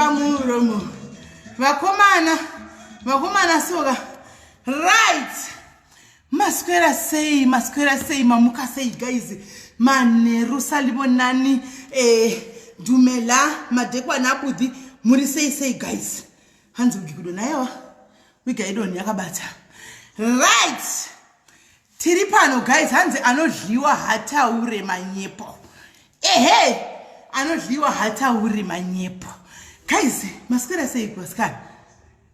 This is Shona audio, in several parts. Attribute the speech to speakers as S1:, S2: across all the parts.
S1: pamuromo vakomana vakomana soka right maswera sei maswera sei mamuka sei guys manheru salivo nani eh, dumela madekwana abudhi muri sei sei guys hanzi wigi kudo nayewa wigi aidoni yakabata right tiri pano guys hanzi anodliwa hataure manyepo ehe anodliwa hataure manyepo guys maswera seiko asikana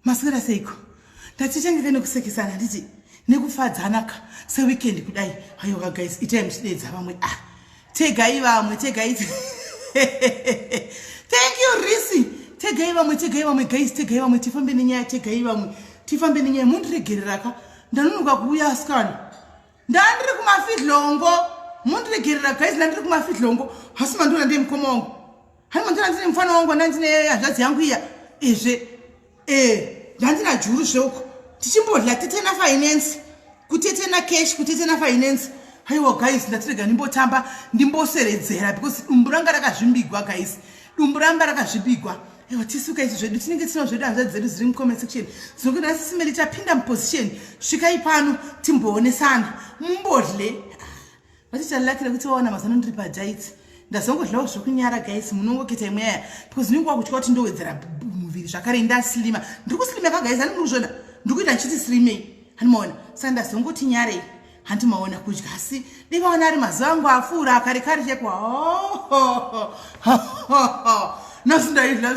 S1: maswera seiko ndatichengete nekusekesana nditi nekufadzanaka seweekend kudai hayoka guys itai muchidedza vamwe ah tegai vamwe tegai thank you risi tegai vamwe tegai vamwe guys tegai vamwe tifambe nenyaya tegai vamwe tifambe nenyaya mundiregereraka ndanonoka kuuya asikana ndandiri kumafidlongo mundiregerera guys ndandiri kumafidlongo hasi mandiona ndemukoma wangu haiwa ndina ndine mufana wangu anda ndine hanzvadzi yangu iya izve e ndandina juru zveuko tichimbodla tete na finance kutete na cash kutete na finance haiwa guys ndatirega ndimbotamba ndimboseredzera because dumbu ranga rakazvimbigwa guys dumbu ramba rakazvimbigwa aiwa tisuka izvi zvedu tinenge tinawo zvedu hanzvadzi dzedu dziri mucomment section dzinoke ndasisimeli tapinda muposition svikai pano timboonesana mumbodle Vati chalakira kuti vawana mazano ndiri pajaiti. Ndazongodlawo zvekunyara guys munongoketa imwe yaya because ndinenge wakutya kuti ndowedzera muviri zvakare ndaslima. Ndiri kuslima ka guys ani muri kuzviona ndiri kuita ndichiti slimei hani maona saka ndazongoti nyarei handi maona kudya asi ndikaona ari mazuva angu apfuura kare kare cheko nasi ndaidla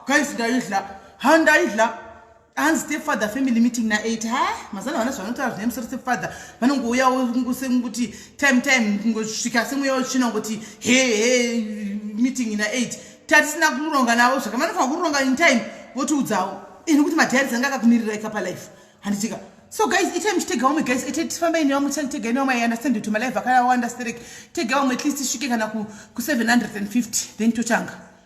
S1: guys ndaidla handaidla hanzi stepfather family meeting na 8 ha mazana vana zvavanotaura zvine musoro stepfather vanongouyawo kuti time time kungosvika semweya wetsvina kuti he he meeting na 8 tatisina kuronga navo zvaka vanofanira kuronga in time votiudzawo ini kuti madhairis anga akakumirira ikapa life handitika so guys itai muchitega vamwe guys itai tifambai nevamwe tisanitega ine vamwe iunderstand kuti malife akawanda sterek tega vamwe at least tisvike kana ku750 then tochanga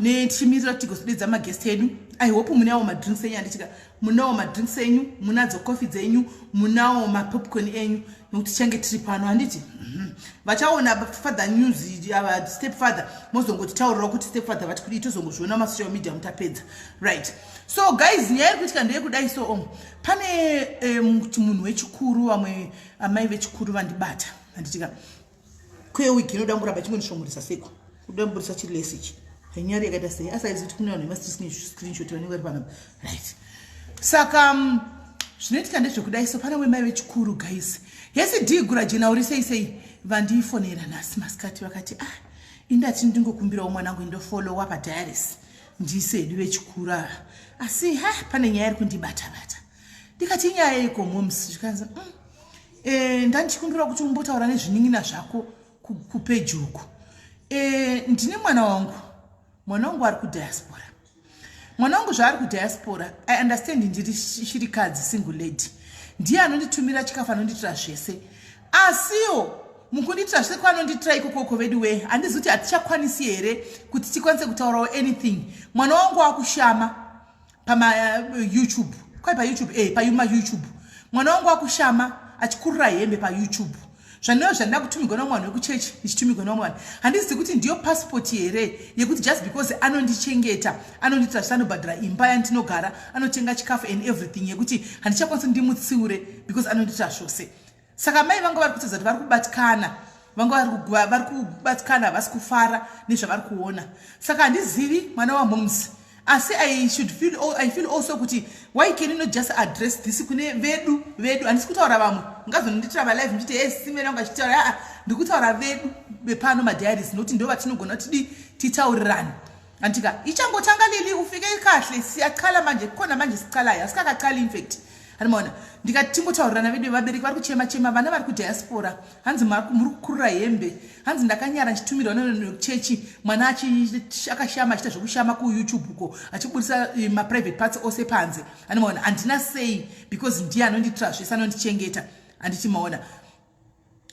S1: nechimiriro tigozodedza maguest edu i hope munawo madrinks enyu handitika munawo madrinks enyu munadzo coffee dzenyu munawo mapopcorn enyu nokuti tichange tiri pano handiti mhm. vachaona father news ava step father mozongotitaurirawo kuti step father vati kudii tozongozviona masocial media mutapedza right so guys nyaya iri kuitika ndeyekudai so om pane eh, munhu wechikuru vamwe amai vechikuru vandibata handitika kwewiki inoda muramba chingondishongoresa seko kuda mburisa chiri lesi ichi hanyari yakaita sei asaizi kuti kune vanhu vemascreenshot vanenge vari panapa right saka mm, zvinoitika ndezvekudai so pane wemai vechikuru guys hesi dii gura jena uri sei sei vandiifonera nhasi masikati vakati ah indati ndingokumbirawo mwanangu indofollowa padiaris ndise hedu vechikuru ava asi ha pane nyaya iri kundibatabata ndikati inyaya iko moms zvikanzi mm. Eh, ndandichikumbira kuti umbotaura nezvinin'ina zvako kupeji uku eh, ndine mwana wangu mwana wangu ari kudiaspora mwana wangu zvaari kudiaspora i understand ndiri shirikadzi single lady ndiye anonditumira chikafu anondiitira zvese asiwo mukundiitira zvese kwaanondiitira ikokoko vedu wee handizi kuti hatichakwanisi here kuti tikwanise kutaurawo anything mwana wangu akushama pama uh, youtube kwai payoutube e eh, payuma youtube mwana wangu wakushama achikurira hembe payoutube zvandiva zvandida kutumigwa nomwana wekuchechi ndichitumigwa nomwana handizivi kuti ndiyo pasipoti here yekuti just because anondichengeta anondiitira zvisanobhadhara imba yandinogara anotenga chikafu and everything yekuti handichakwanisi ndimutsiure because anondiitira zvose saka mai vanga vari kutadza kuti vari kubatikana vanga vari kubatikana havasi kufara nezvavari kuona saka handizivi mwana wamoms asi i should feel, I feel also kuti why can you not just address this kune vedu vedu handisi kutaura vamwe ngazononditira valive nditi he simera unga chitaura aa ndiri kutaura vedu vepano madiaries nokuti ndo vatinogona kuti di titaurirane Antika ichangotanga Lili ufike kahle siyachala manje kukhona manje sichalayo asikakachali in fact hanimona ndikati tingotaurirana vedu vevabereki vari kuchema chema vana vari kudiaspora hanzi muri kukurira hembe hanzi ndakanyara ndichitumirwa nekuchechi mwana akashama achiita zvekushama kuyoutube uko achiburitsa eh, maprivate parts ose panze hanimona handina sei because ndiye anondiitira zvese anondichengeta handiti maona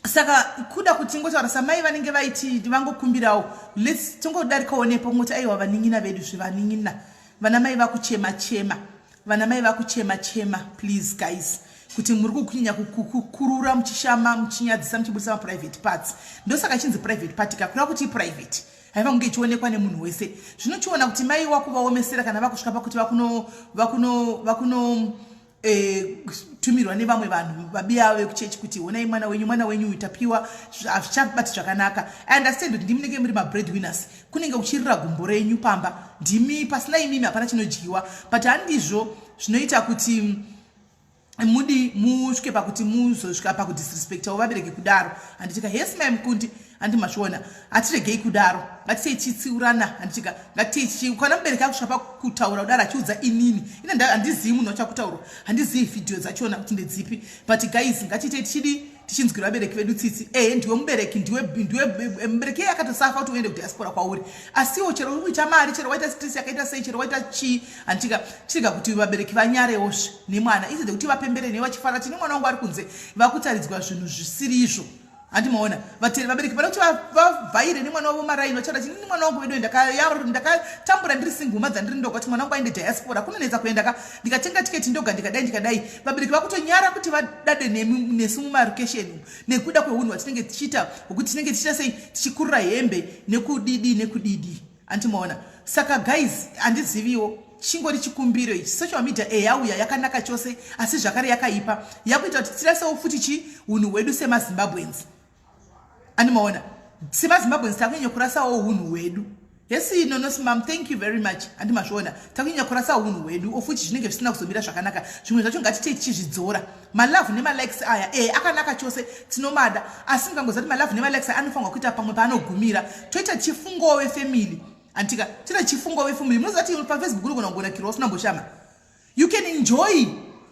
S1: saka kuda kuti tingotaura samai vanenge vaiti vangokumbirawo lets tingodarikawo nepo kungoti aiwa vanin'ina vedu zvevanin'ina vana mai vakuchema chema vana mai vakuchema chema please guys kuti muri kukunyanya kukurura muchishama muchinyadzisa muchibudisa maprivate parts ndosaka chinzi private party kakureva kuti iprivate haiva kunge ichionekwa nemunhu wese zvinochiona kuti mai wakuvaomesera kana vakusvika pakuti vakuno vakuno vakuno kutumirwa eh, nevamwe vanhu vabiya vekuchechi kuti honai mwana wenyu mwana wenyu uyu tapiwa hazvichabati zvakanaka i understand kuti ndimi nenge muri mabread winners kunenge kuchirira gumbo renyu pamba ndimi pasina imimi hapana chinodyiwa but handizvo zvinoita kuti mm, mudi musvike pakuti muzosvika pakudisrespectawo vabereki kudaro handitika yes mai mukundi handi mazviona hatiregei kudaro ngatitei tichitsiurana handitika ngatitei tichi ukana mubereki akusvika pakutaura kudaro achiudza inini ine handizivi munhu wachakutaurwa handizivi vhidhiyo dzachona kuti ndedzipi but guys ngatiitei tichidii tichinzwira vabereki vedu tsitsi ehe ndiwe mubereki ndiwe eh, mubereki iye akatosafa kuti uende kudiaspora kwauri asiwo chero uri kuita mari chero waita stress yakaita sei chero waita chii handitika chirega kuti vabereki vanyarewozve nemwana instead yekuti vapembere newe vachifara tine mwana wangu ari kunze vakutaridzwa zvinhu zvisiri izvo handi maona vateri vabereki vada kuti vavhaire nemwana wavo maraini vachada chini nemwana wangu vedu ndakatambura ndiri singuma dzandiri ndoga kuti mwana wangu aende diaspora kunonetsa kuenda ka ndikatenga tiketi ndoga ndikadai ndikadai vabereki vakutonyara kuti vadade nesu mumarukesheni umu nekuda kweunhu hwatinenge tichiita hwekuti tinenge tichiita sei tichikurura hembe nekudidi nekudidi antimaona saka guys handiziviwo chingori chikumbiro ichi social media e yauya yakanaka chose asi zvakare yakaipa yakuita kuti tirasewo futi chi unhu hwedu semazimbabweans andimaona semazimbabweans takunyanya kurasawo unhu hwedu hesi nonosi mam thank you very much handi mazviona takunyanya kurasawo unhu hwedu ofuti zvinenge zvisina kuzomira zvakanaka zvimwe zvacho ngatitei tichizvidzora malove nemalikes aya e akanaka chose tinomada asi mukangoziva kuti malove nemalikes aya anofanirwa kuita pamwe paanogumira toita chifungowo vefamily antika toita chifungowo vefamily munoziva kuti pafacebook unogona kugonakirwa usina mboshama you can enjoy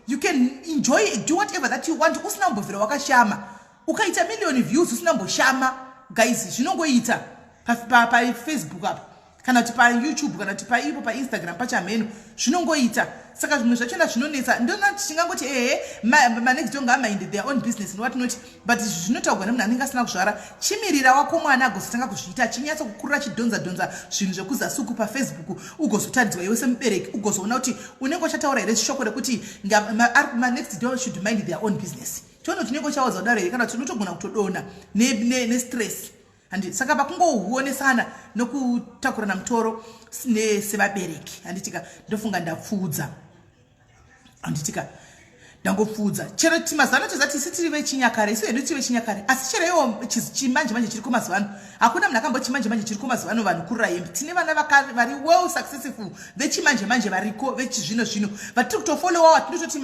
S1: you can enjoy do whatever that you want usina kumbobvira wakashama ukaita million views usina mboshama guys zvinongoita pafacebook pa, pa, apa kana kuti payoutube kana kuti paipo painstagram pachamheno zvinongoita saka zvimwe zvachona zvinonetsa ndona tichingangoti ehe manext do ngamainde their own business nowat not but izvi zvinotaurwa nemunhu anenge asina kuzvara chimirira wako mwana agozotanga kuzviita achinyatsa kukurira chidhonza dhonza zvinhu zvekuzasuku pafacebook ugozotaridzwa iwe semubereki ugozoona kuti unenge uchataura here shoko rekuti manext do should mind their own business chono chineko chawadza kudaro here kana tinotogona kutodona nestress ne, ne handi saka pakungohuonesana nokutakurana mutoro sevabereki handitika ndofunga ndapfuudza handitika ndangopfuudza chero mazuva ano tozati isi tiri vechinyakare isu hedu tiri vechinyakare asi chero iwo chimanje manje chiriko mazuva ano hakuna munhu akambochimanje manje chiriko mazuva ano vanhu kurayembi tine vana vari well successful vechimanje manje variko vechizvino zvino vatiri kutofolowa watinototi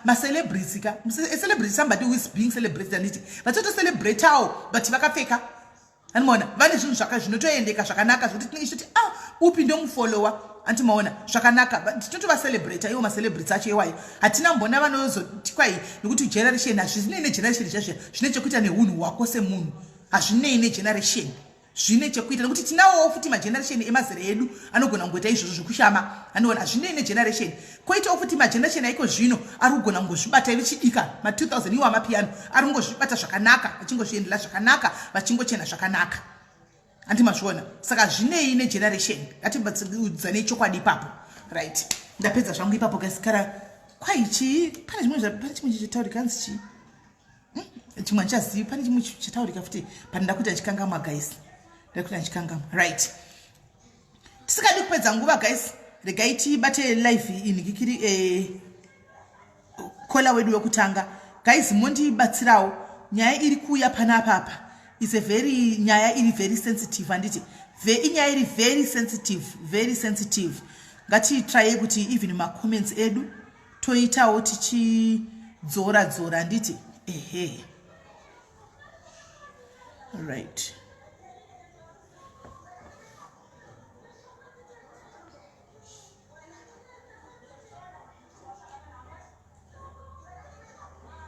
S1: macelebrity ka celebrity somebody who is being celebrated anditi vatitotocelebratao but vakapfeka andimaona vane zvinhu zvaka zvinotoendeka zvakanaka zvokuti tinenge tichiti a ah, upi ndomufolowa antimaona zvakanaka tinotovacelebrata iwo macelebrity acho iwayo hatina mbona vanozoti kwai nekuti generation hazvizinei negeneration zvazviya zvine chekuita neunhu hwako semunhu hazvinei negeneration zvine chekuita nekuti tinawowo futi mageneration emazera edu anogona kungoita izvozvo zvekushama anoona hazvinei negeneration koitawo futi mageneration aiko zvino ari kugona kungozvibata ive chidika ma2000 iwo amapiyano ari kungozvibata zvakanaka vachingozviendela zvakanaka vachingochena zvakanaka handi mazviona saka zvinei negeneration ngatiudzanei chokwadi ipapo right ndapedza zvangu ipapo gasikara kwai chii pane zvimwe pane chimwe chichitaurika hanzi chii hmm, chimwe handichazivi pane chimwe chataurika futi pane ndakuita chikangamwa guys ndakuita chikangamwa right tisikadi kupedza nguva guys regai tibate live inhikikiri eh, kola wedu wekutanga guys mondibatsirawo nyaya iri kuuya panapa apa is a very nyaya iri very sensitive handiti inyaya iri very sensitive very sensitive ngatitraye kuti even macomments edu toitawo tichidzora dzora handiti ehe right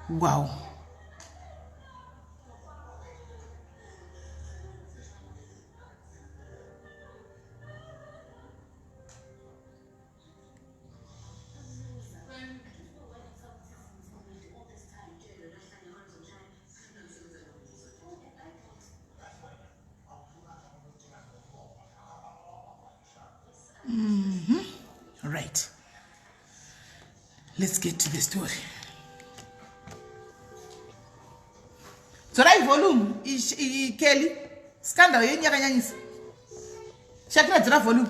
S1: wow Mm -hmm. Right. Let's get to the story. dzorai volume ikeli scandal yenyu yakanyanyisa shakira dzora volume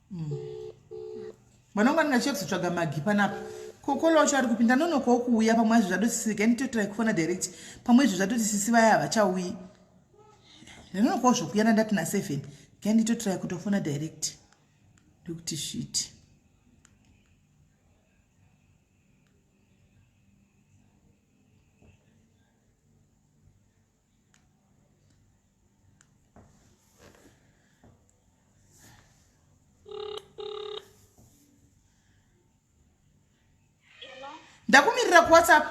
S1: vanonga ndinachia kuzotsvaga magi panapa kokolo wacho ari kupinda nonokawo kuuya pamwe azvi zvatosisirika nditotrai kufona direct pamwe izvi zvatoti sisi vaya havachauyi ndinonokawo zvokuyana ndati naseven ga nditotrai kutofona direct ndokuti shiti ndakumirira kuwhatsapp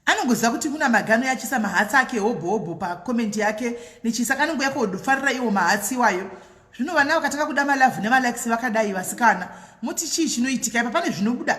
S1: anongoziva kuti kuna magano yachisa mahatsi ake hobho hobho pakomenti yake nechisa kanongoya kofarira iwo mahatsi iwayo zvino vana vakatanga kuda malavhu nemalikes vakadai vasikana moti chii chinoitika ipa pane zvinobuda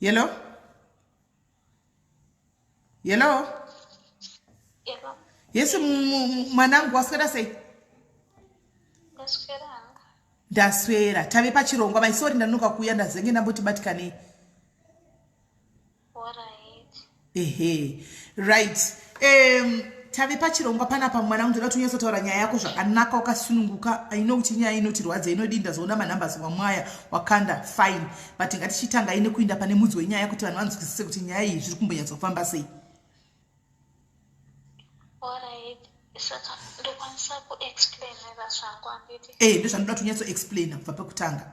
S1: Hello? Hello?
S2: Yes,
S1: mwanangu waswera sei? Ndaswera. Ndaswera. Tave pachirongwa, my sorry ndanuka kuuya ndazenge ndamboti batikanei.
S2: ehe
S1: right um, tave pachirongwa panapa mwana unge ndati unyatsotaura nyaya yako zvakanaka wakasununguka ino kuti nyaya inotirwadza inodii ndazoona manumbers wamwaya wakanda fine but ngatichitanga ine kuinda pane mudzi wenyaya kuti vanhu vanzwisise kuti nyaya iyi zviri kumbonyatsofamba sei
S2: eh ndozvanoda kuti
S1: unyatsoexplaina kubva pekutanga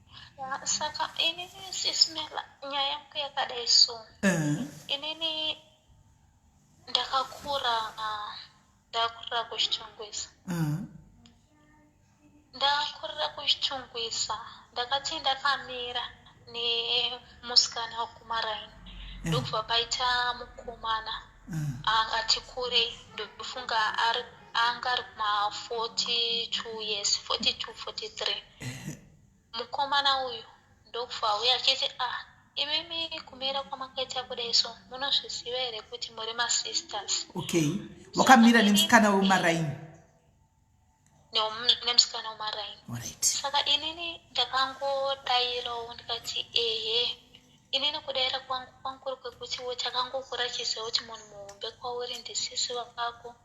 S2: saka inini sismela nyaya yangu yakadai so eh. inini ndakakura ndakurira kuchitungwisa eh. ndakurira kuchitungwisa ndakati ndakamira nemusikana wekumaraini eh. ndokubva paita mukomana angati kure ndofunga anga ari kuma 42 years 42 43 Mukomana uyu ndokufa auya achiti ah imimi kumira kwamakaita kudai so munozviziva here kuti muri masisters. Okay.
S1: Wakamira nemusikana wemaraini.
S2: Nemusikana wemaraini. Alright. Saka
S1: inini
S2: ndakangodairawo ndikati ehe inini kudaira kwangu kwanguri kwekuti takangokura chiziva kuti munhu muhombe kwauri ndisisi vako.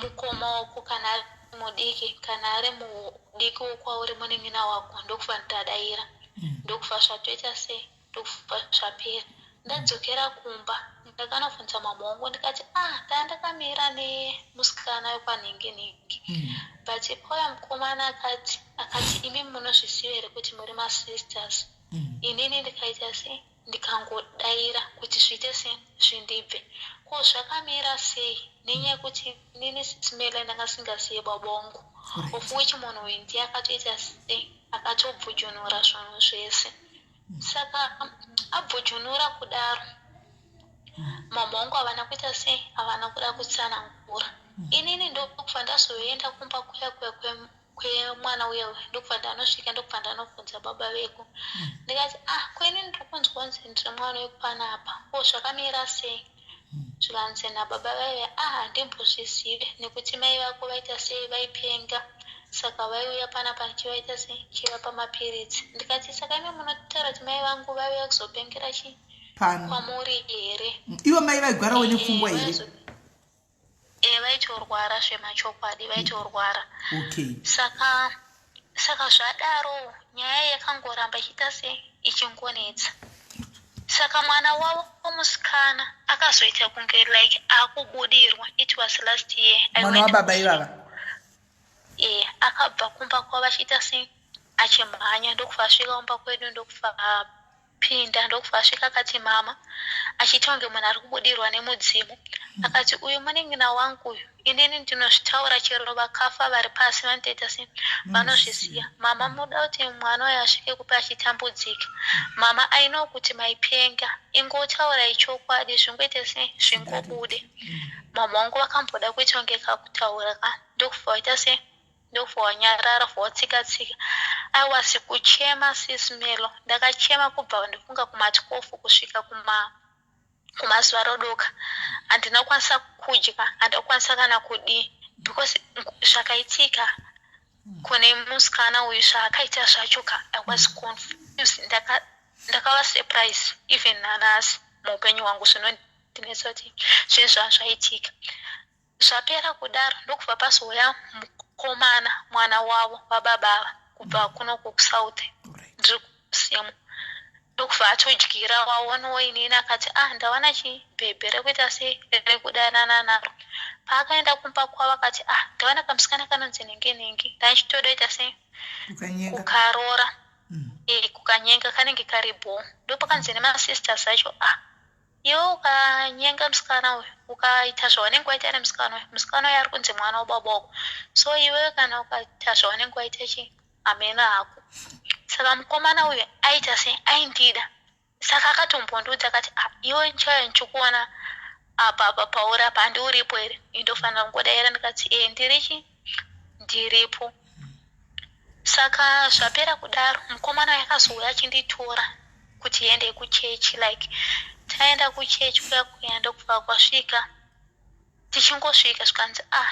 S2: mukoma wako kana ari mudiki kana ari mudiki wokwauri munin'ina wako ndokufa nditadaira mm. ndokufa zvatoita sei ndokufa zvapera ndadzokera kumba ndakanofunza mambo wangu ndikati ah daa ndakamira nemusikana wekwanhingi nhingi mm. but pauya mukomana akati akati imi munozviziva here kuti muri masisters mm. inini ndikaita sei ndikangodaira kuti zviite sei zvindibve ko zvakamira sei nenyaya yekuti nini smela ndanga singaziye baba wangu of which munhu uyu ndiye akatoita sei akatobvujunura zvinhu zvese mm. saka abvujunura kudaro mm. mama wangu havana kuita sei havana kuda kutsanangura mm. inini ndokufa ndazoenda kumba kuya kuya kwemwana uya uya ndokubva ndanosvika ndokubva ndanobvunza baba veku hmm. ndikati ah kweni ndiri kunzwa nzi ndiri mwana wekupana apa ko zvakamira sei hmm. zvikanzi nababa vaive ah handimbozvizive nekuti mai vako vaita sei vaipenga saka vaiuya pana pa chivaita sei chivapa mapiritsi ndikati saka ime munotaura kuti mai vangu vaiuya kuzopengera chii kwamuri here ivo mai vaigwara
S1: wenepfungwa eh, here e vaitorwara
S2: zvemachokwadi vaitorwara okay
S1: saka
S2: saka zvadaro nyaya yakangoramba ichiita se ichingonetsa saka mwana wavo omusikana akazoita kunge like akubudirwa it was last year mwana wababa ivava
S1: e
S2: akabva kumba kwavo achiita se achimhanya ndokufa asvika kumba kwedu ndokufa Pinda ndokubva asvika akati mama achiita kunge munhu ari kubudirwa nemudzimu hmm. akati uyu munin'ina wangu uyu inini ndinozvitaura chero vakafa vari pasi vanotoita se hmm. vanozvisiya mama muda kuti mwana uyo asvike kupi achitambudzika hmm. mama aino kuti maipenga ingotaura ichokwadi zvingoite se zvingobude mama wangu vakamboda kuita kunge kakutaura ka ndokubva waita se Ndobva wanyarara bva watsika tsika. I was kuchema sis Melo. Ndakachema kubva ndifunga kuma 12 kusvika kuma kumazuva rodoka. Handina kukwanisa kudya, handina kukwanisa kana kudii because zvakaitika kune musikana uyu zvaakaita zvacho ka i was confused ndaka ndakava surprise even nanhasi muupenyu hwangu zvinondinetsa kuti zvinhu zvazvaitika Zvapera kudaro ndokubva pazouya mukomana mwana wavo vababa ava kubva kuno kuSouth ndiri kusimu ndokubva atodyira waonawo inini akati ah ndawana chibhebhe rekuita sei rekudanana naro paakaenda kumba kwavo akati ah ndawana kamusikana kanonzi nenge nenge ndaichitoda ita sei kukarora mm. e, kukanyenga kanenge kari bho ndopakanzi nemasisters acho ah Iwe ukanyenga musikana uyu ukaita zvawanenge waita nemusikana uyu musikana uyu ari kunzi mwana wababa wako so iwe kana ukaita zvawanenge waita chi hameno hako saka mukomana uyu aita sei aindida saka akatombondiudza akati ah, iwe nchaya ndichikuona apa apa pauri apa handiuripo here indofanira kungodaira ndikati e ndiri chi ndiripo saka zvapera kudaro mukomana yakazouya achinditora kuti ende kuchechi like taenda kuchechi kuya kuya ndokubva kwasvika tichingosvika zvikanzi ah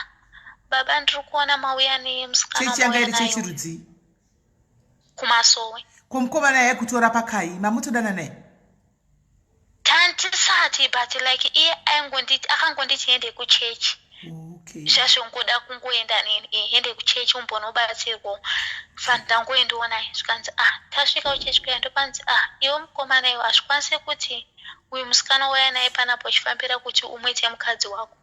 S2: baba ndiri kuona mauya nemusikanachechirudzii kumasowe komukomana
S1: yaikutora pakai mamutodananai Tantisati
S2: but like iye aingonditi akangonditi hende kuchechi okay. zvazvongoda kungoenda nini eh, hende kuchechi umbonobatsirwawo fani ndangoendiwo naye zvikanzi ah tasvika kuchechi kuya ndopanzi ah iwo mukomana iwo hazvikwanise kuti uyu musikana waya naye panapo uchifambira kuti umwete mukadzi wako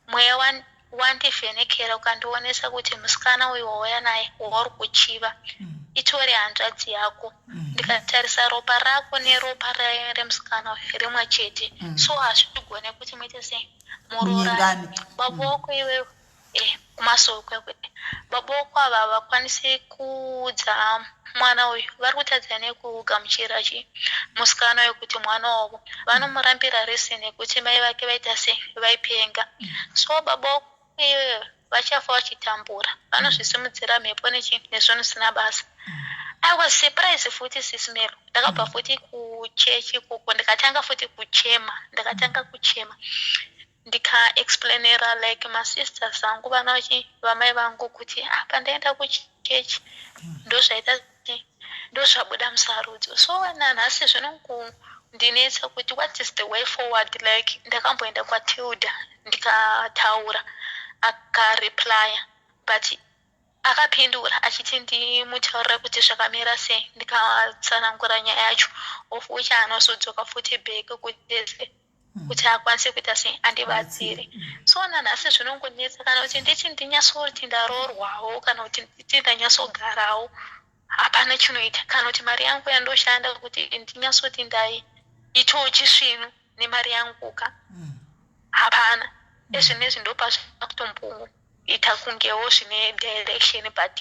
S2: Mweya wan, wandivhenekera ukandionesa kuti musikana uyu wauya naye wauri kuchiva mm. itori hanzvadzi yako mm. ndikatarisa ropa rako neropa raye remusikana uyu rimwe chete mm. so hazvigone kuti muite sei muroorani baba wako iwewe eh. kumasokwe baboko ava havakwanise kuudza mwana uyu vari kutadza nekugamuchira chi musikana uyu kuti mwana wavo vanomurambira rese nekuti mai vake vaita se vaipenga so baboko iyoyo vachafa vachitambura vanozvisimudzira mhepo nechi nezvinhu zvisina basa i was surprise futi sismelo ndakabva futi kuchechi kuko ndikatanga futi kuchema ndikatanga kuchema ndika explainera like masisters angu vanachi vamai vangu kuti ah pandaenda kuchechi ndozvaita ndozvabuda musarudzo so nanhasi zvinongundinetsa kuti what is the way forward like ndakamboenda kwatilda ndikataura akareplya but akapindura achiti ndimutaurira kuti zvakamira sei ndikatsanangura nyaya yacho of which anozodzoka futi back kuti mm. kuti akwanise kuita sei andibatsire mm. so nanhasi zvinongonetsa kana kuti ndichi ndinyatsoti ndaroorwawo kana kuti nditi ndanyatsogarawo hapana chinoita kana kuti mari yangu yandoshanda kuti ndinyatsoti ndai itawo chisvinu nemari yanguka mm. hapana ezvinezvi ndopazvakutomboita ita kungewo zvine direction but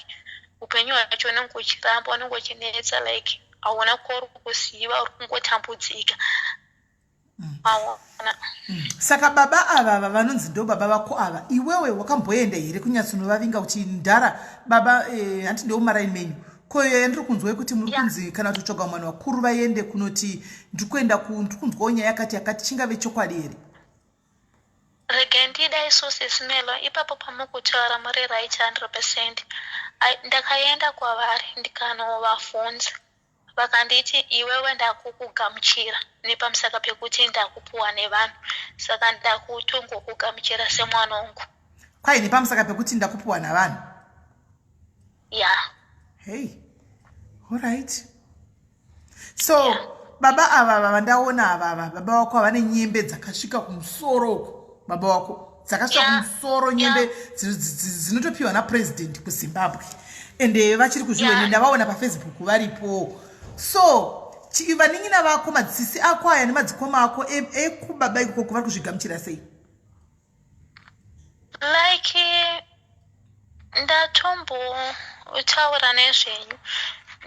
S2: upenyu hwacho unenge uchiramba unenge uchinetsa like hauna kori kuziva uri kungotambudzika saka baba
S1: ava ava vanonzi ndo baba vako ava iwewe wakamboenda here kunyatsonovavinga kuti ndara baba eh, hanti ndeomarai menyu ko iyoyo ndiri kunzwa yekuti muri kunzi kana kutotsvaga mwana vakuru vaende kunoti ndiri kuenda ndiri kunzwawo nyaya yakati yakati chingave chokwadi here
S2: regai ndida isusi smelo ipapo pamukutaura muri right hundred percent ndakaenda kwavari ndikanovavhunza Vakanditi, Iwewe ndakukugamuchira nepamusaka pekuti ndakupuwa nevanhu, saka ndakutongokugamuchira semwana wangu. Kwai nepamusaka
S1: pekuti ndakupuwa navanhu?
S2: Ya. Yeah. Hey.
S1: All right. So, yeah. baba ava ava vandaona ava ava baba wako havane nyembe dzakasvika kumusoro uko baba wako dzakasvika kumusoro nyembe dzinotopiwa napresident kuzimbabwe ende vachiri kuzviwene ndavaona pafacebook varipo so vanin'ina vako madzisisi ako aya nemadzikoma ako e, ekubaba ikoko kuvari kuzvigamuchira sei
S2: like ndatombotaura nezvenyu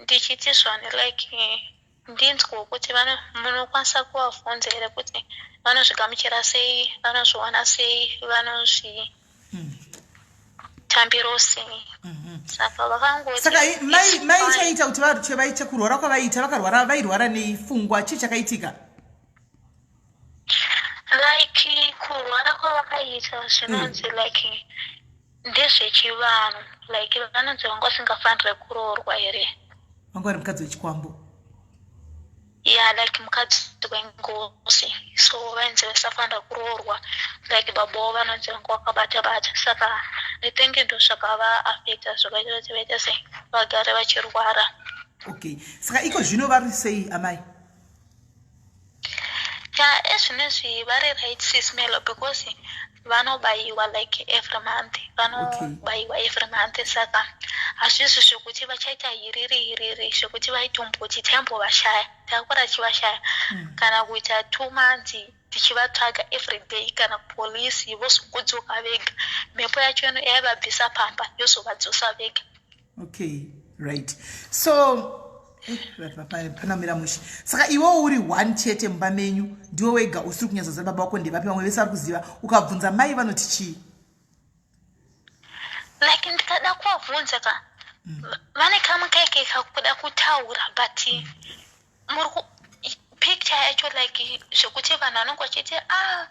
S2: ndichiti zvani like Ndinzwewo kuti vana munokwanisa kuvavhunza here kuti vanozvigamuchira sei, vanozviona sei, vanozvitambiro sei. Mhm. Saka vakangoti. Saka mai
S1: mai chaita kuti varutye vaite kurwara kwavaita vakarwara vairwara nei fungwa chii chakaitika?
S2: Like kurwara kwavakaita zvinonzi mm. like ndezvechivanhu like vanonzi vanga vasingafanire kuroorwa here vanga vari mukadzi
S1: wechikwambo
S2: ya yeah, like mukadzi wengozi so vainzi vasafanira kuroorwa like baboo vanonzi vanga vakabata bata saka nitenge ndo zvakavaafecta zvakaita kuti vaita sei vagare vachirwara okay
S1: saka iko zvino vari sei amai
S2: ya ezvinezvi vari right sis melo because vanobaiwa like every month vanobaiwa okay. every month saka hazvizvi zvekuti vachaita hiriri hiriri zvekuti vaitomboti taimbovashaya takura tichivashaya mm. kana kuita two months tichivatsvaga everyday kana polisi vozokudzoka vega mhepo yacho ino yaivabvisa pamba yozovadzosa vega okay
S1: right so eh, panamira mushe saka iwewo uri one chete mumba menyu ndiwe wega usiri kunyatsoziva baba wako ndevapi vamwe vese vari kuziva ukabvunza mai vanoti chii
S2: like ndikada kuvabvunza ka mm. vane kamwe kaike kakuda kutaura but Murku picture yacho like zvekuti vanhu vanenge vachiti ah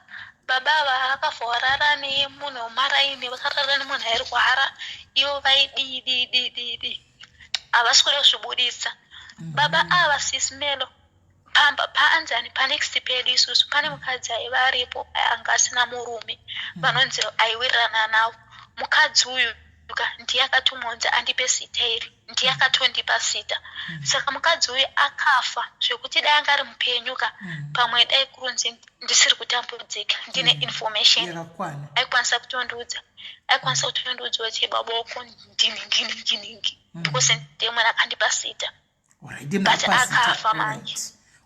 S2: baba ava akafa warara nemunhu wemaraini vakarara nemunhu airwara ivo vaidii dii dii dii dii havasi kuda kuzvibudisa mm-hmm. baba ava sismelo pamba paanzani panext pedu isusu pane mukadzi aiva aripo anga asina murume mm-hmm. vanonzi aiwirirana navo mukadzi uyu Ka, ndiye akatomuunza andipe sita iri ndiye akatondipa sita mm. saka mukadzi uyu akafa zvekuti dai anga ari mupenyu ka mm. pamwe dai kurunzi ndisiri kutambudzika ndine mm. information aikwanisa kutondiudza aikwanisa kutondiudza kuti baboko ndiningi ningi ningi mm. because ndiye mwana akandipa sita but akafa manje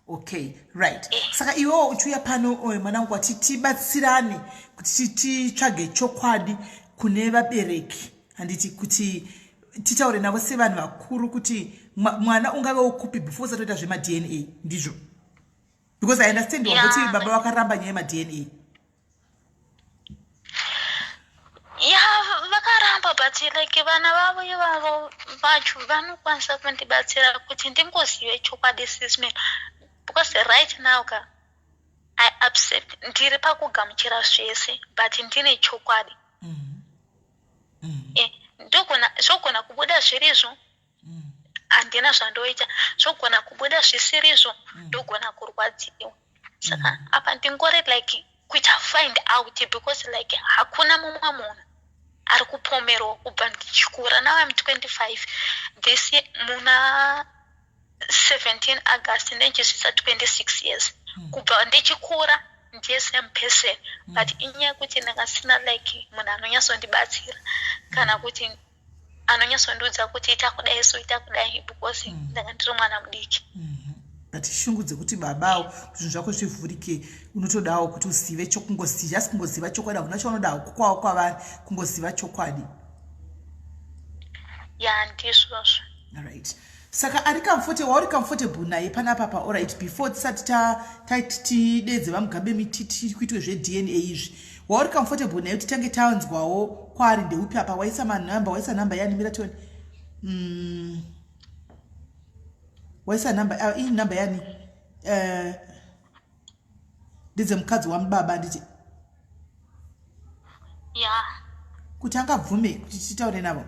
S2: okay
S1: right eh. saka iwewo uchiuya pano eh, mwana wangu wati tibatsirane kuti titsvage chokwadi kune vabereki handiti kuti titaure navo sevanhu vakuru kuti mwana ungave ukupi before usatoita zvemadna ndizvo because i understand wakuti baba vakaramba nyaya yemadna
S2: ya vakaramba but like vana vavo ivavo vacho vanokwanisa kundibatsira kuti ndingozive chokwadi sisman because right now ka i upset ndiri pakugamuchira zvese but ndine chokwadi mm-hmm. Mm-hmm. Eh, zvogona kubuda zvirizvo mm. handina zvandoita zvogona kubuda zvisirizvo mm. ndogona kurwadziwa saka mm. apa ndingori like kuita find out because like hakuna mumwe munhu ari kupomerwa kubva ndichikura now im 25 this muna 17 august ndichisvitsa 26 years hmm. kubva ndichikura ndiye same person hmm. but inyaya yekuti ndakasina like munhu anonyatsondibatsira kana hmm. kuti anonyatsondiudza kuti ita kudai so ita kudai because mm. ndanga ndiri mwana mudiki mm-hmm. but
S1: shungu dzekuti babawo zvinhu zvako zvivhurike unotodawo kuti uzive chokungoziva just kungoziva chokwadi hakuna chaunodawo kukwawo kwavari kungoziva chokwadi
S2: ya ndizvozvo right
S1: saka ari comfortable wauri comfortable naye panapa pa orit before tisati tati tidedze vamugabe mititi kuitwe zvedna izvi wauri comfortable naye kuti tange tanzwawo kwaari ndeupi apa waisa manumber waisa number yani mira tione mm. waisa number uh, ah, ii number yani uh, ndidze mukadzi wami baba anditi
S2: ya kuti
S1: angabvume kuti titaure navo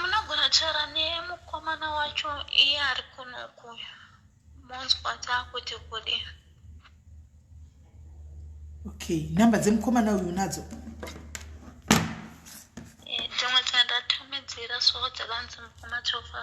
S2: munogona taura nemukomana wacho iye ari kunoku monzwa taakuti kudi
S1: okay nhamba dzemukomana uyu unadzo
S2: dzimwe eh, dzandatumidzira so dzakanzi mukoma chofa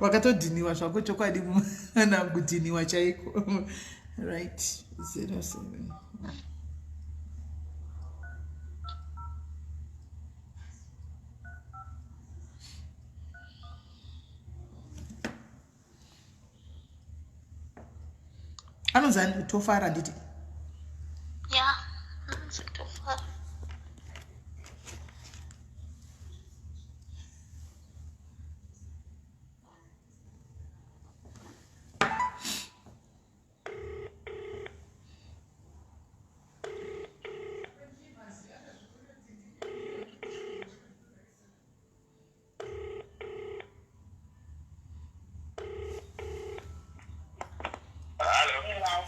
S1: wakatodhiniwa zvako chokwadi mwana kudhiniwa chaiko right 07 anonzi ani tofara nditi
S2: ya anonzi tofara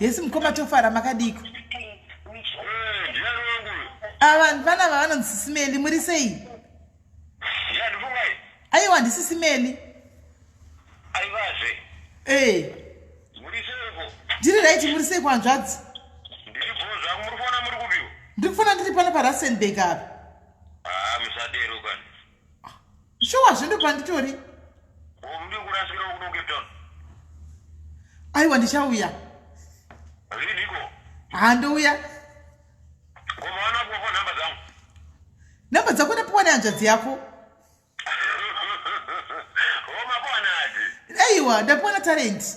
S1: yes mukoma tofara makadiko avanhu ah, vana vavanonzisisimeli muri sei aiwa ndisisimeli
S3: ee ndiri raiti muri sei
S1: kuhanzvadzi
S3: ndiri kufona ndiri pano
S1: parasenbeg apa
S3: shuwa
S1: zvindo panditori aiwa ndichauya
S3: handouya nhamba
S1: dzako ndapiwa nehanzvadzi yako
S3: aiwa ndapiwa na
S1: talenti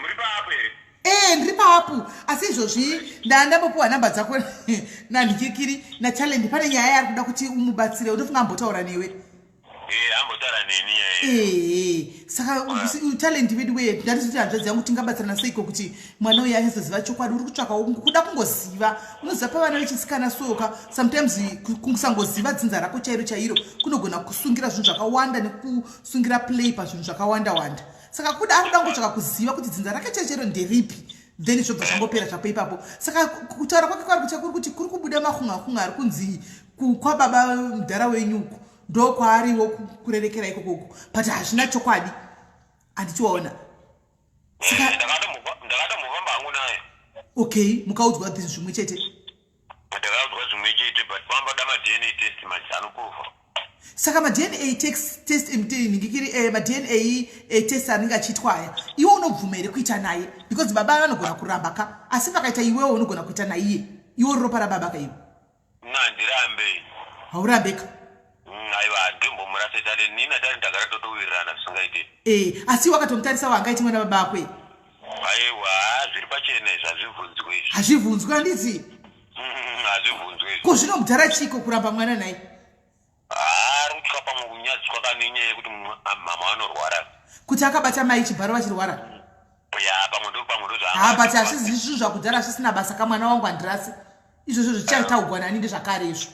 S3: Muri paapu here? Eh, ndiri paapu.
S1: Asi izvozvi ndandambopuwa number dzako na Ndikikiri na Challenge pane nyaya yari kuda kuti umubatsire. Unofunga ambotaura newe? Eh, ambotaura
S3: neni yeye. Eh, saka u
S1: Challenge vedu we ndati kuti hanzvadzi yangu tingabatsirana sei ko kuti mwana uya azoziva chokwadi uri kutsvaka kuda kungoziva. Unoziva pa vana vechisikana soka sometimes kungosangoziva dzinza rako chairo chairo kunogona kusungira zvinhu zvakawanda nekusungira play pa zvinhu zvakawanda wanda. saka kuda akuda kungotsvaka kuziva kuti dzinza rake chechero nderipi then zvobva zvangopera zvapo ipapo saka kutaura kwake kwari kutya kuri kuti kuri kubuda makhungakhunga ari kunzi kwababa mudhara wenyuku ndo kwaariwo kurerekera ikoko uku but hazvina chokwadi handichiwaona saka eh,
S3: ndakatomuva mbangu naye okay
S1: mukaudzwa this zvimwe chete
S3: Ndakazwa zvimwe chete
S1: but vamboda ma DNA test manje anoprova. Saka ma DNA test test inenge kiri eh ma DNA eh, test anenge achiitwa aya. Iwe unobvuma here kuita naye? Because baba vanogona kuramba ka asi pakaita iwewe unogona kuita naiye. Iwe ropa rababa ka iwe. Nandirambe.
S3: Haurambe
S1: ka. Mm, aiwa
S3: handimbomurase dare nini nadare ndagara totowirirana zvisingaite ee eh, asi wakatomtarisa
S1: waangaiti mwana baba akwe aiwa
S3: zviri pachena izvi hazvibvunzwe izvi hazvibvunzwe handizi
S1: mm, hazvibvunzwe izvi ko zvino
S3: mudhara
S1: chiiko kuramba mwana nhai haa ri kutya pamwe
S3: kunyadzi kwakano inyaya yekuti mama vanorwara kuti akabata
S1: mai chibharo vachirwara ya
S3: pamwe ndo pamwe ndozvahaa but hazvizi zvinhu
S1: zvakudhara zvisina basa kamwana wangu handirasi izvozvo zvichataugwa nani ndezvakare izvo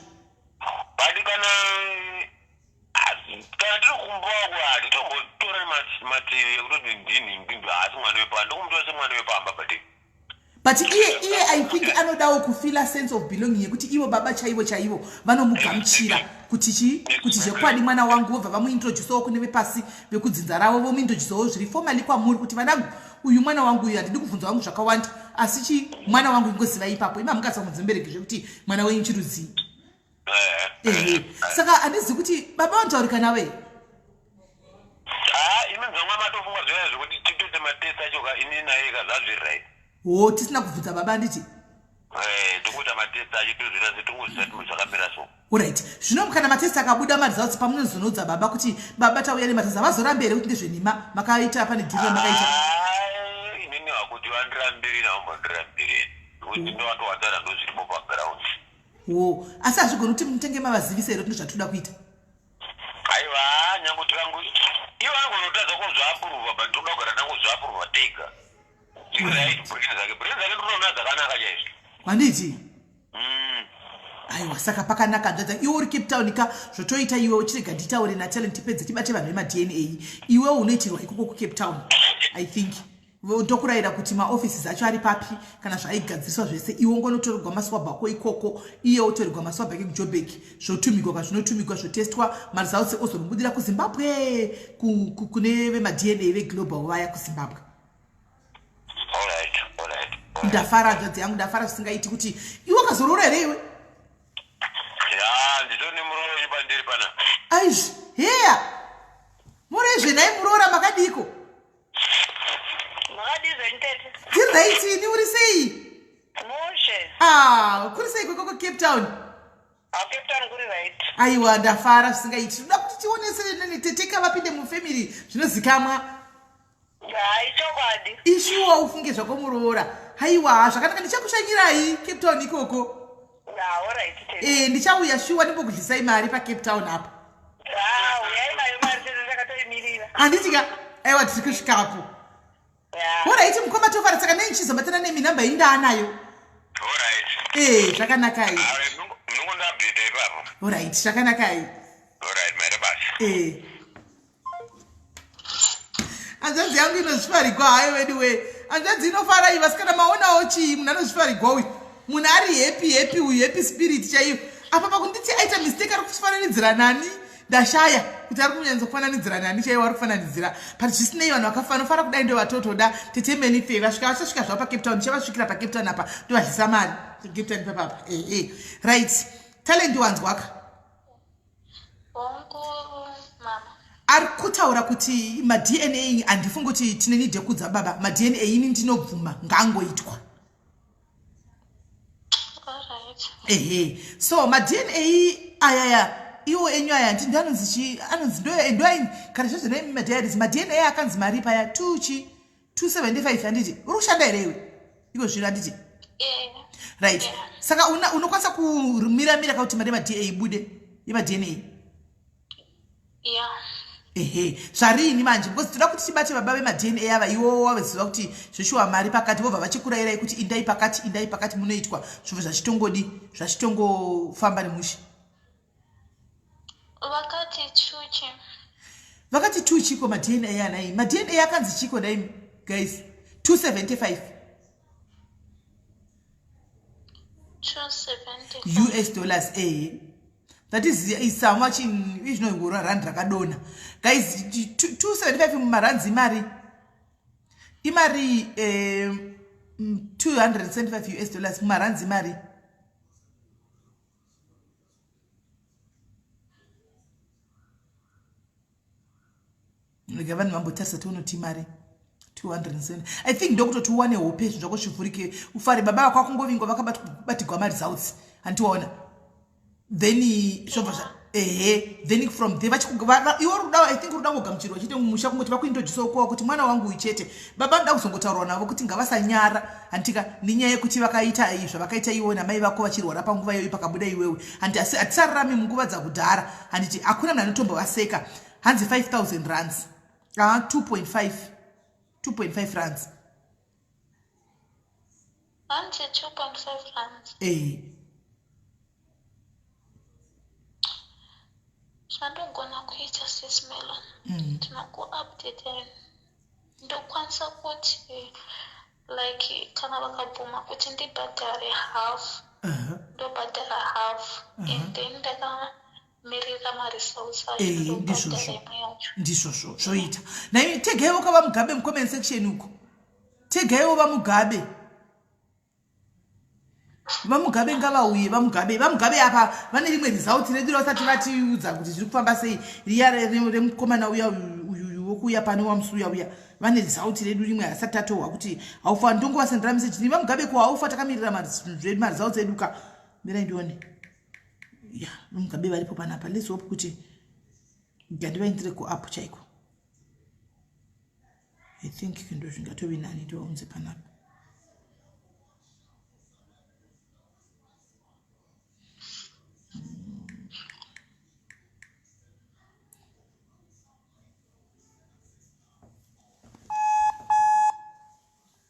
S1: but
S3: kana kana tiri kumboa kwadi tombotora mativi ekutoti ndinhinginzi haasi mwana wepamba ndokumutova semwana wepamba but but
S1: iye iye i think anodawo kufila sense of belonging yekuti ivo baba chaivo chaivo vanomugamuchira kuti chii kuti zvekwadi mwana wangu vobva vamuintroducewo kune vepasi vekudzinza ravo vomuintroducewo zviri fomali kwamuri kuti vana uyu mwana wangu uyu handidi kubvunza wangu zvakawanda asi chi mwana wangu ingozivai ipapo ima mukasa kunzi mubereki zvekuti mwana wenyu chirudzii eh, eh, eh. saka handizi kuti baba vanotaurika nawe ah, imi
S3: dzonga matofunga zviyaya zvekuti titote matest acho ka ini naye ka zvazviririt wo tisina
S1: kubvunza baba handiti Eh, tokuita
S3: matest acho tozvira se tongoziva timo zvakamira so orit zvino kana
S1: matest akabuda maresults pamunozonoudza baba kuti baba tauya nematest avazorambe here kuti ndezvenhima makaita pane dhiri ramakaita inini
S3: vakuti vandirambiri navambodirambiri kuti ndovatovatara ndozvirimo paground wo
S1: asi hazvigoni kuti mutenge mavazivisa here kuti ndozvatinoda kuita
S3: aiwa nyange tikangu ivo anogonotadza kuzvaapuruvha but toda kugara tangozvaapuruvha tega handiti
S1: mm. aiwa saka pakanaka nzvadza iwe uri cape town ka zvotoita iwe uchirega nditaure natalent tipedze tibate vanhu vemadna iwe unoitirwa ikoko kucape town i think ndokurayira kuti maoffices acho ari papi kana zvaigadziriswa zvese iwo ngonotorerwa maswab ako ikoko iye otorerwa maswab ake kujobek zvotumigwa kazvinotumigwa zvotestwa maresults ozonobudira kuzimbabwe kune vemadna veglobal vaya kuzimbabwe ndafara hanzvadzi yangu ndafara zvisingaiti kuti iwe ukazoroora here iwe
S3: aizvi
S1: heya mureizve nhai muroora makadiiko dzirraiti ini uri sei ah, kuri sei kwekoko cape town aiwa ndafara zvisingaiti tinoda kuti tionesere nani teteka vapinde mufamily zvinozikamwa haichokwadi ishuwa ufunge zvako muroora haiwa zvakanaka ndichakushanyirai cape town ikoko e ndichauya shuwa ndimbokudlisai mari pacape town apa handiti ka aiwa tiri kusvikapo horaiti mukoma tofara saka nei ndichizobatana nemi namba yenyu ndaanayo e zvakanakai horaiti zvakanakai e hanzvadzi yangu inozvifarigwa hayo veduwee hanzvadzi inofara iyi vasikana maonawo chii munhu anozvifarigwa uyu munhu ari hepi hepi uyu hepi spirit chaiyo apa pakunditi aita mistake ari kufananidzira nani ndashaya kuti ari kunyanyisa kufananidzira nani chaiyo ari kufananidzira but zvisinei vanhu vakafanofara kudai ndo vatotoda tete many fe vasvika vachasvika zvavo pacape town chavasvikira pacape town apa ndovadlisa mari cape town papapa ee eh, eh. right talent wanzwaka ari kutaura kuti madna handifungi kuti tine nide kudza baba madna ini ndinobvuma ngaangoitwa ehe so madna ayaya iwo enyu aya ndi ndanonzi chi anonzi ndoyo endoaini kana zvazvinaimi madiaries madna akanzi maripa ya tuchi 275 handiti uri kushanda here iwe iko zvino handiti eh. right eh. saka unokwanisa kumira mira kauti mari yemada ibude yemadna ehe zvariini manje because toda kuti tibate baba vemadna ava iwowo waveziva kuti zveshuwa mari pakati vobva vachikurayirai kuti indai pakati indai pakati munoitwa zvobva zvachitongodi zvachitongofamba nemushe vakati chuchi vakati two chiko madna anaimi madna akanzi chiko naimi guys 275 us dollars ehe that is is how much in izvinohura rand rakadona guys 275 mumarans imari imari 275 eh, us dollars mumarans imari rega vanhu vambotarisa tionoti mari 207 i think ndokutoti uwane hope zvinhu zvako zvivhurike ufare baba vako akungovingwa vakabatigwa mari zautsi handiwaona then zvobva zva ehe then from there iwo ruda i think ruda ngogamuchirwa chete musha kungoti vakuintroduce ukuwa kuti mwana wangu uyu chete baba ndoda kuzongotaurwa navo kuti ngavasanyara hantika nenyaya yekuti vakaita iyi zvavakaita iwe namai vako vachirwara panguva iyoyi pakabuda iwewe handi asi hatisararami munguva dzakudhara handiti hakuna mna anotombo vaseka hanzi 5000 runs a 2.5 2.5 runs
S2: Hanzi 2.5 rands. Eh. Zvandogona kuita sis Melon. Mm. Tinokuupdater. Ndokwanisa kuti like kana vakabvuma kuti ndibhadhare half. Uh -huh. Ndobhadhara half. Uh -huh. And then ndaka Eh, ndizvozvo ndizvozvo zvoita
S1: nai tegaiwo ka vamugabe mucomment section uko tegaiwo vamugabe vamugabe ngavauye vamugabe vamugabe apa vane rimwe result redu ravasati vatiudza kuti zviri kufamba sei riya remukomana uya uyu wokuuya pane wamusi uya uya vane result redu rimwe hasati tatohwa kuti haufa ndongovasendera message ni vamugabe ko haufa takamirira maresults edu ka mirai ndione ya nomugabe varipo panapa let's hope kuti gandivaindire kuapp chaiko i think ndo zvingatove nani tovaunze panapa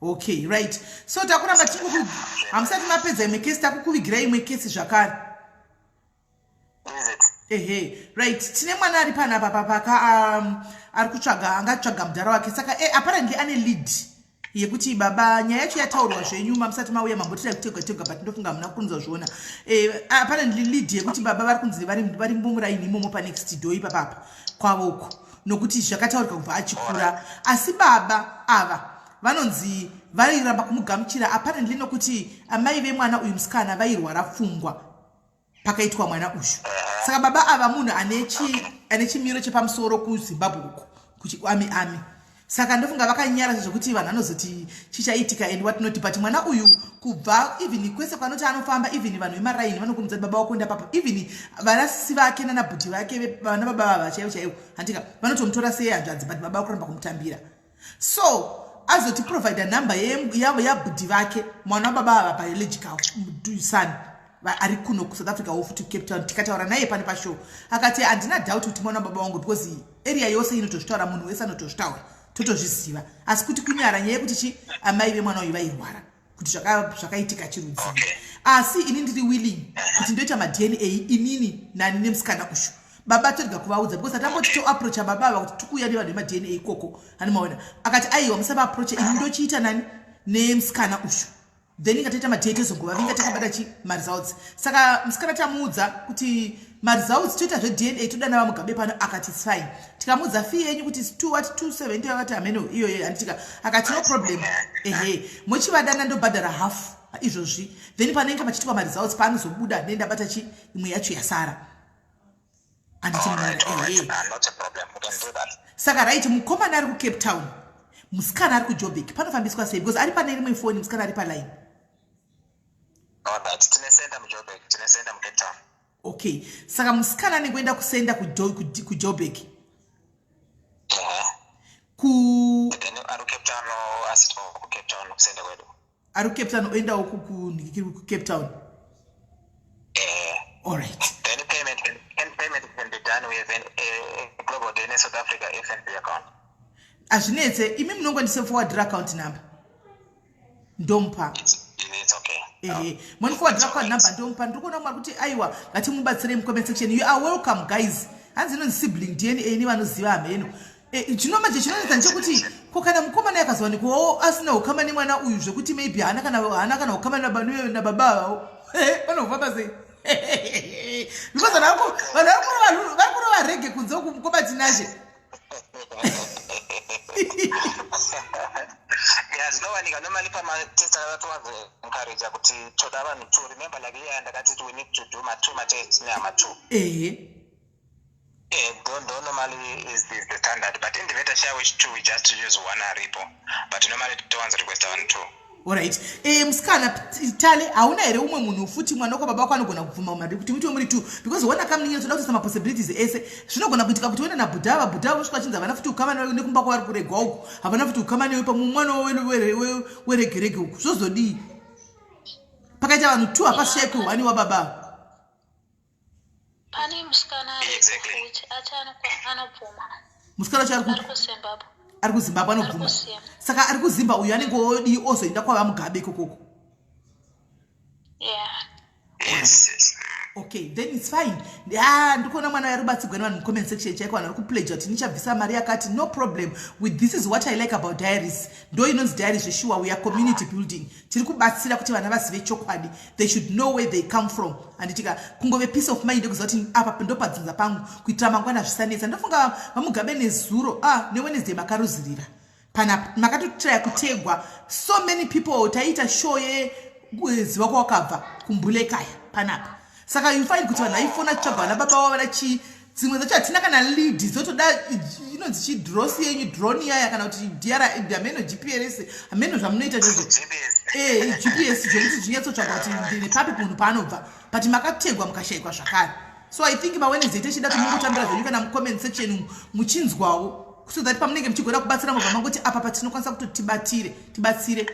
S1: okay right so takuramba tichikuku hamusati mapedza imwe kesi takukuvigira imwe kesi zvakare ehe right tine mwana ari pana papa paka um, ari kutsvaga anga tsvaga mudhara wake saka e, apparently ane lead yekuti baba nyaya yacho yataurwa zvenyu mamusati mauya mambotira kutegwa tegwa but ndofunga hamuna kunzwa zviona e, apparently lead yekuti baba vari kunzi vari mumuraini imomo panext do ipapapa kwavo uko nokuti zvakataurika kubva achikura asi baba ava vanonzi vairamba kumugamuchira apparently nokuti amai vemwana uyu musikana vairwara pfungwa pakaitwa mwana uyu saka baba ava munhu ane chimiro chepamusoro kuzimbabwe uko kuchiami ami saka ndofunga vakanyara zvekuti vanhu vanozoti chichaitika and what not but mwana uyu kubva even kwese kwanoti anofamba even vanhu vemaraini vanokumudza baba wako ndapapa even vanasisi vake nanabhuti vake vana baba vava chaivo chaivo handika vanotomutora sei hanzvadzi but baba vakuramba kumutambira so azoti provide number yabhudhi vake mwana wababa vava biological son ari kuno kusouth africa wo futi cape town tikataura naye pane pashow akati handina doubt kuti mwana wababa wangu because area yose inotozvitaura munhu wese anotozvitaura totozviziva asi kuti kunyara nyaya yekuti chi amai vemwana uyu vairwara kuti zvakaitika chirudzii asi ini ndiri willing kuti ndoita madna inini nani nemusikana ushu baba torega kuvaudza because atamboti toaproacha baba ava kuti tikuuya nevanhu vemadna ikoko anomaona akati aiwa musavaapproacha ini ndochiita nani nemusikana ushu then inga taita matete zoguva vinga takabata chi maresults saka musikana tamuudza kuti maresults toita zvedna toda nava mugabe pano akati fine tikamuudza fee yenyu kuti two what two seventy vakati hameno iyoyo handitika akati no problem ehe mochivadana ndobhadhara half izvozvi then panoinga pachitwa maresults paanozobuda nendabata chi imwe yacho yasara saka right mukomana ari kucape town musikana ari kujobek panofambiswa sei because ari pane rimwe foni musikana ari paline okay saka musikana anenge oenda kusenda kujobek ku ari kucape town oendawo kukunhikiri kucape town eh. allright then payment
S3: and payment can be done with an, a, a global dna south africa fnb account hazvinetse
S1: imi munongo
S3: ndisefowadira
S1: account number
S3: ndomupa
S1: ehe monifowadira account number ndomupa ndiri kuona kumari kuti aiwa ngatimubatsirei mucomment section you are welcome guys hanzi inonzi sibling dna ini vanoziva hameno Eh, zvino manje chinonetsa ndechekuti ko kana mukomana yakazowanikwawo asina ukama nemwana uyu zvekuti maybe haana kana haana kana ukama nababa avavo eh, vanofamba sei because vanhu vako vanhu vakurova vari kurova rege kunze uku mukoma tinashe
S4: ya zvinowanika nomali pamatest akatovaencouraja kuti toda vanhu two remember like iya ndakati we need to do matwo matest nehama two ehe Eh, don't, don't normally is, is the standard but in the better share which two we just use one aripo but normally towanz request one two orit e,
S1: eh, musikana tale hauna here umwe munhu futi mwana wako baba wako anogona kubvuma umari kuti muti wemuri two because one akamninyira toda kutoisa mapossibilities ese zvinogona kuitika kuti uenda nabhuda vabhuda vavo svika vachinzi havana futi ukama nekumba kwavari kuregwa uku havana futi ukama newe pamwe mwana weregerege uku zvozodii pakaita vanhu two hapasvike kuhwani wababa
S2: pane musikana anobvuma musikana wacho
S1: ari kuzimbabwe ari kuzimbabwe anobvuma saka ari kuzimba uyu anenge odii ozoenda kwava mugabe ikokoko
S4: okay
S1: then its fine ah, ndikuona mwana uyo ari kubatsirwa nevanhu mucomment section chaiko vanhu vari kupledja kuti nichabvisa mari yakati no problem with this is what i like about diaries ndo inonzi diaries zveshuwa weare community building tiri kubatsira kuti vana vazive chokwadi they should know where they come from handitika kungove peace of mind yekuziva kuti apa ndopadzinza pangu kuitira mangwana zvisanetsa ndofunga vamugabe nezuro a ah, newednesday makaruzirira panapa makatotraya kutegwa so many people taiita show yeziva kwawakabva kumbulekaya panapa saka you find kuti vanhu vaifona tsvagwa vana baba wavo vana chii dzimwe dzacho hatina kana lead dzotoda inonzi chidrosi yenyu drone yaya kana kuti dr hameno gprs hameno zvamunoita zvezvo e gps zvekuti zvinyatsotsvaga kuti ndine papi munhu paanobva but makategwa mukashayikwa zvakare so i think mawednesday techida kuti mukutambira zvenyu kana mucomment section muchinzwawo so that pamunenge muchigoda kubatsira mobva mangoti apa patinokwanisa kuti tibatire tibatsire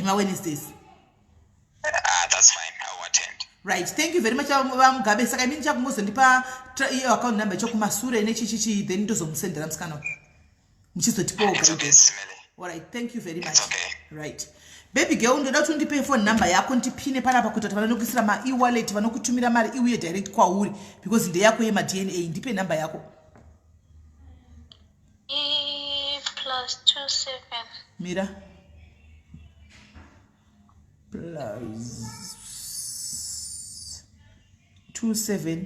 S4: mawednesdays ah, that's fine i will attend right thank you very much
S1: vamugabe saka imini chakumuzondipa iyo account number chokumasure nechichichi then ndozomusendera musikana muchizotipawo okay.
S4: thank you very
S1: much okay. right baby girl ndoda kuti undipe phone number yako ndipine panapa kuita kuti vanokuisira maewallet vanokutumira mari iuye direct kwauri because ndeyako yemadna ndipe number yako
S2: mira
S1: plus 27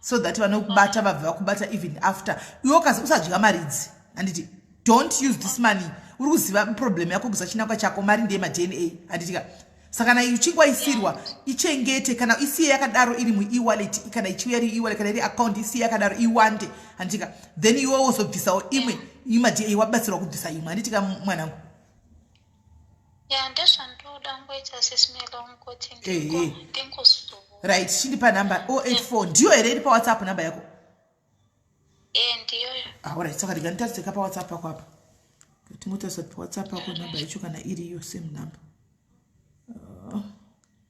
S1: so that vanokubata vabva vakubata even after iwe ukazi usadya mari idzi handiti don't use this money uri kuziva problem yako kuza chinakwa chako mari ndeye madna handitika saka kana ichinge waisirwa ichengete kana isiye yakadaro iri muewallet kana ichiuya iri ewallet kana iri account isiye yakadaro iwande handitika then iwe wozobvisawo imwe imadna wabatsirwa kubvisa imwe handitika mwanangu
S2: right chindipa
S1: number 084 ndiyo here iri pawhatsapp number yako
S2: aorit ah, saka ndikanditariseka
S1: pawhatsapp pako apa tingotarisa kuti whatsapp yako number yacho kana iriyo same number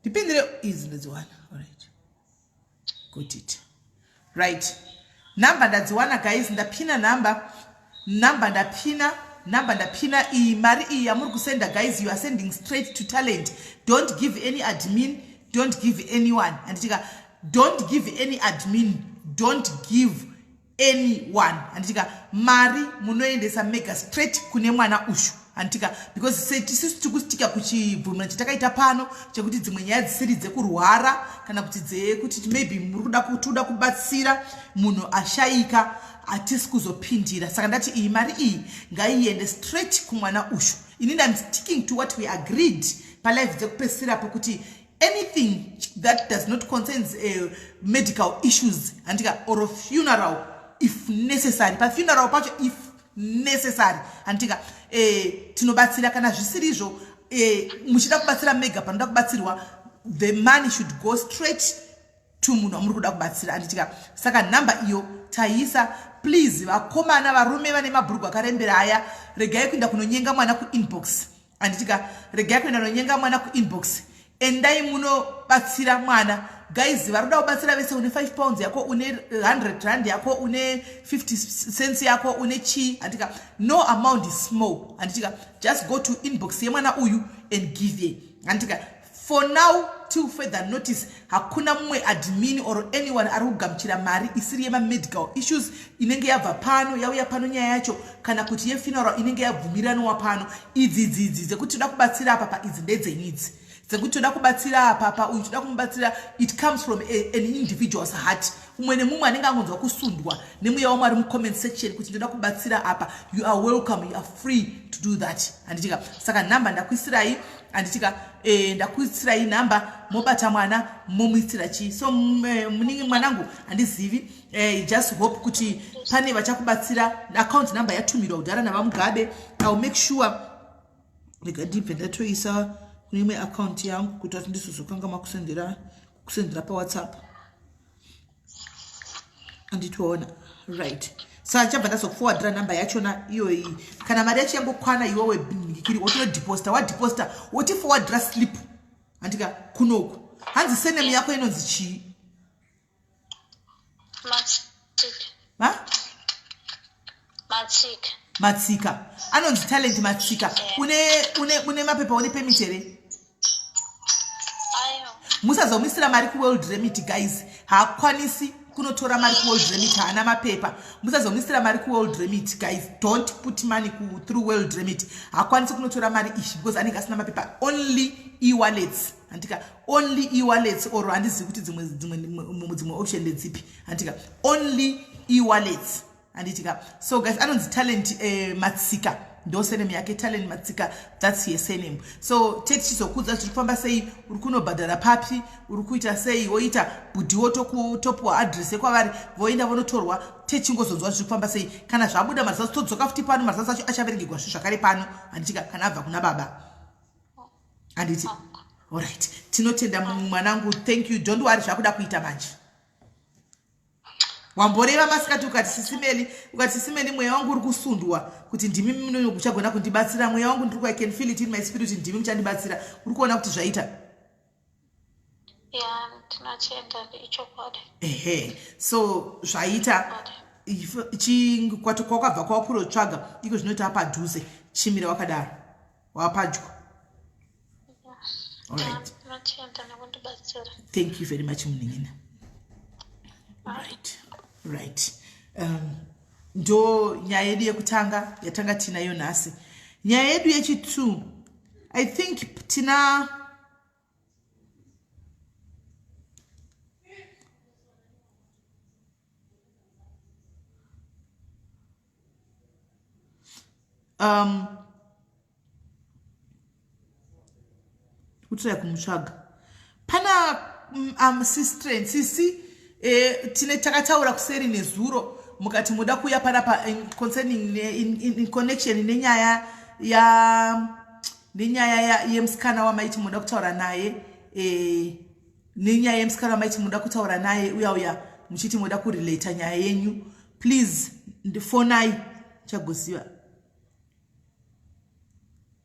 S1: ndipindire izi ndodziwana orit got it right number ndadziwana guys ndapina number number ndapina number ndapina iyi mari iyi yamuri kusenda guys you are sending straight to talent don't give any admin don't give anyone anditika don't give any admin don't give anyone handitika mari munoendesa mega straight kune mwana ushu handitika because setisisu tiri kusitika kuchibvumira chatakaita pano chekuti dzimwe nyaya dzisiri dzekurwara kana kuti dzekuti maybe muri kuda kutikuda kubatsira munhu ashaika hatisi kuzopindira saka ndati iyi mari iyi ngaiende straight kumwana ushu ini ndam sticking to what we agreed palife dzekupesira pokuti anything that does not concerns uh, medical issues handika or funeral if necessary pafuneral pacho if necessary handika eh, tinobatsira kana zvisiri izvo eh, muchida kubatsira mega panoda kubatsirwa the money should go straight to munhu wamuri kuda kubatsira anditika saka nhamba iyo taisa please vakomana varume vane mabhurugwa akarembera aya regai kuenda kunonyenga mwana kuinbox anditika regai kuenda nonyenga mwana kuinbox endai munobatsira mwana guys vari kuda kubatsira vese une 5 pounds yako une 100 rand yako une 50 cents yako une chii anditika no amount is small anditika just go to inbox yemwana uyu and give ye anditika For now till further notice hakuna mumwe admin or anyone ari kugamuchira mari isiri yemamedical issues inenge yabva pano yauya pano nyaya yacho kana kuti yefuneral inenge yabvumiranwa pano idzi idzi idzi dzekuti toda kubatsira apa pa idzi ndedzenyu idzi dzekuti toda kubatsira apa pa uyu toda kumubatsira it comes from a, an individual's heart umwe nemumwe anenge angonzwa kusundwa nemweya wamwari mucomment section kuti ndoda kubatsira apa you are welcome you are free to do that handitika saka nhamba ndakuisirai handitika eh, ndakuisirai nhamba mobata mwana momuitira chii so eh, muningi mwanangu handizivi eh, just hope kuti pane vachakubatsira account number yatumirwa kudhara navamugabe ill make sure rega ndibve ndatoisa kune imwe akaunti yangu kuita kuti ndizozokanga makusendera kusendera pawhatsapp anditoona right sa chabva ndazokufowadira namba yachona iyoyi kana mari yacho yangokwana iwewe bingikiri wotonodeposita wadeposita wotifowadira slip andika kunoku hanzi senemu yako inonzi chii ha matsika matsika anonzi talent matsika une une une mapepa une permit here musazomuisira mari kuworld remit guys haakwanisi kunotora mari kuworld remit haana mapepa musazomuisira mari kuworld remit guys don't put money ku through world remit haakwanisi kunotora mari ishi because anenge asina mapepa only ewallets handika only ewallets or handizivi kuti dzimwe dzimwe dzimwe option ndedzipi handika only ewallets handitika so guys anonzi talent eh, matsika ndo sename yake talent matsika thats ye sename so te tichizokudza zviri kufamba sei uri kunobhadhara papi uri kuita sei woita bhudhiwo tokutopiwa adress yekwavari voenda vonotorwa techingozonzwa zviri kufamba sei kana zvabuda mazazi todzoka futi pano mazazi acho achaverengegwa zvi zvakare pano handitika kana abva kuna baba anditi orit tinotenda mwanangu thank you don't wari zvakuda kuita manje wamboreva masikati ukati sisimeli ukati sisimeli mweya wangu uri kusundwa kuti ndimi munoyo kuchagona kundibatsira mweya wangu ndiri kuican feel it in my spirit ndimi muchandibatsira uri kuona kuti zvaita
S2: ehe so
S1: zvaita chikwati kwakabva kwakurotsvaga iko zvinoita padhuze chimira wakadaro wapadyo alright thank you very much munin'ina right right um, ndo nyaya yedu yekutanga yatanga tinayo nhasi nyaya yedu yechitwo I think tina um kutira kumutsvaga pana um, um, sistren sisi eh, tine takataura kuseri nezuro mukati moda kuuya panapa concerning in, in, in connection nenyaya ya nenyaya yemusikana wamaiti munoda kutaura naye eh, nenyaya yemusikana wamaiti munoda kutaura naye uya uya muchiti moda kurelata nyaya yenyu please ndifonai chagoziva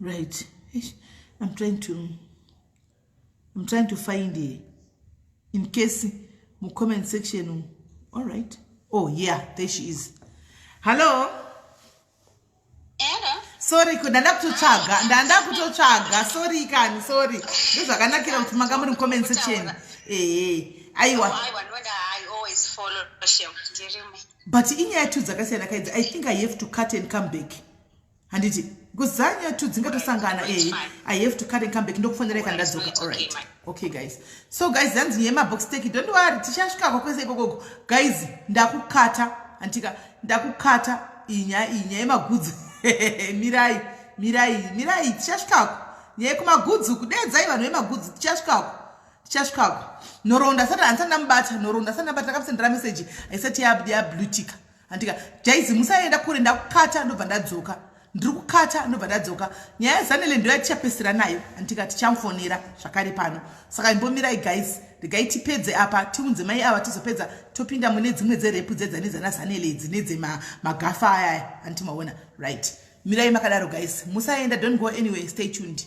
S1: right i'm trying to i'm trying to find here in case mu comment section all right oh yeah there she is hello
S2: sorry ko ndanda
S1: kutotsvaga ndanda kutotsvaga sorry kani sorry ndozvakanakira kuti manga muri mucomment section ehe aiwa
S2: oh, but
S1: inyaya two dzakasiyana kaidzi i think i have to cut and come back handiti because dzanyaya two dzingatosangana e eh, i have to cut and come back ndokufonera ika ndadzoka allright okay guys so guys dhanzi nyaya mabox take don't worry tichasvikako kwese ikokoko guys ndakukata handitika ndakukata iyi nyaya iyi nyaya yemagudzi mirai mirai mirai tichasvikako nyaya yekumagudzi kudeedzai vanhu vemagudzi tichasvikako chasvikako nhoroondo asati handisati ndamubata nhoroondo asati ndabata ndakamusendera meseji haisati yablutika handika jaizi musaenda kure ndakukata ndobva ndadzoka ndiri kukata ndobva ndadzoka nyaya yezanele ndo yatichapesera nayo handika tichamufonera zvakare pano saka imbomirai guys regai tipedze apa tiunze mai ava tizopedza topinda mune dzimwe dzerepu dzedzanedzana zanele idzi nedzemagafa ayaya handiti maona right mirai makadaro guys musaenda don't go anyway stay tuned